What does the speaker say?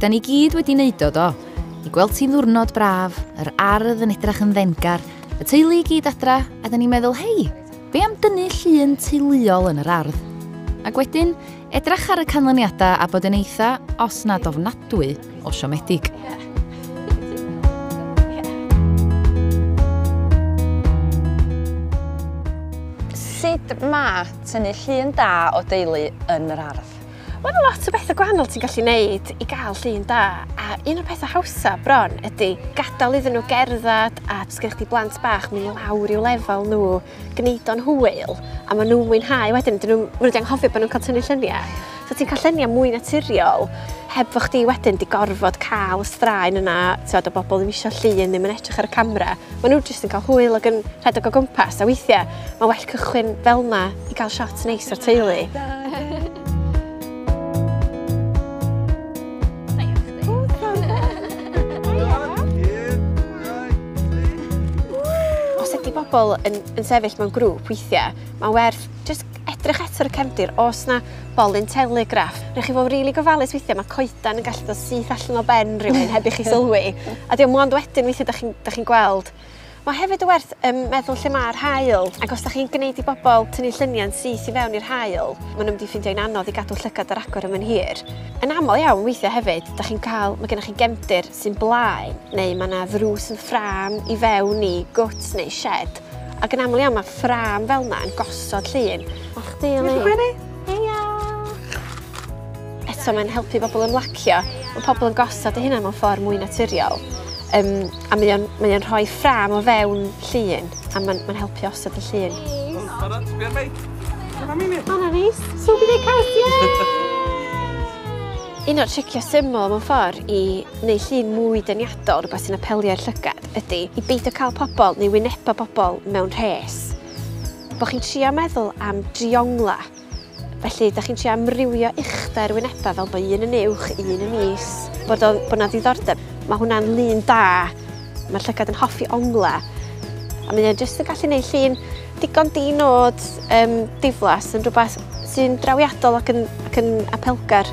Da ni gyd wedi neud o do. I gweld ti'n ddwrnod braf, yr ardd yn edrach yn ddenggar, y teulu i gyd adra, a da ni'n meddwl, hei, be am dynnu llun teuluol yn yr ardd? Ac wedyn, edrach ar y canlyniadau a bod yn eitha, os nad ofnadwy, o siomedig. Yeah. Sut mae tynnu llun da o deulu yn yr ardd? Mae yna lot o bethau gwahanol ti'n gallu neud i gael llun da, a un o'r pethau hawsa bron ydy gadael iddyn nhw gerdded a os gennych chdi blant bach, mynd lawr i'w lefel nhw, gwneud o'n hwyl, a maen nhw'n mwynhau wedyn, dyn nhw, maen nhw wedi anghofio bod nhw'n cael tynnu lluniau. So ti'n cael lluniau mwy naturiol, heb fo chdi wedyn di gorfod cael y straen yna, ti'n o bobl ddim eisiau llun, ddim yn edrych ar y camera. Maen nhw jyst yn cael hwyl ac yn rhedeg o gwmpas, a weithiau Mae well cychwyn fel yna i gael shot neis o'r teulu. Os ydy bobl yn, yn sefyll mewn grŵp weithiau, mae'n werth just edrych eto ar y cefndir os na bolyn telegraff. Rwy'n chi fod rili really gofalus weithiau, mae coedan yn gallu dod syth allan o ben rhywun heb i chi sylwi. A diolch mwyn ond wedyn weithiau da chi'n chi gweld Mae hefyd werth um, meddwl lle mae'r hael, ac os da chi'n gwneud i bobl tynnu lluniau'n syth i fewn i'r hael, maen nhw'n mynd i ffeindio'n anodd i gadw llygad ar agor ym hir. Yn aml iawn weithiau hefyd, da chi'n cael, mae gennych chi gemdir sy'n blaen, neu mae yna ddrws yn ffram i fewn i gwt neu shed, ac yn aml iawn mae ffram fel yna yn gosod llun. A chdi, Eli? Diolch yn eto mae'n helpu pobl ymlacio. Mae pobl yn gosod eu hunain mewn ffordd mwy naturiol. Um, A mae o'n, mae o'n rhoi ffrâm o fewn llun, a mae'n ma helpu osod y llun. Iawn, barod? Sbia meic. Dyna ni ni. Hwna ni. So bydd ei caws, ie! Un o'r tricio syml mewn ffordd i neu llun mwy dyniadol, rhywbeth sy'n apelio i'r llygad, ydy i beidio cael pobl neu wynebau pobl mewn rhes. Bo chi'n trio meddwl am driongla. Felly, da chi'n trio amrywio uchder wynebau fel bod un yn uwch, un yn is, bod o, bod 'na ddiddordeb. Mae hwnna'n lun da. Mae'r llygad yn hoffi onglau. A mae o jyst yn gallu gwneud llun digon di-nod um, diflas yn rhywbeth sy'n drawiadol ac yn, ac yn apelgar.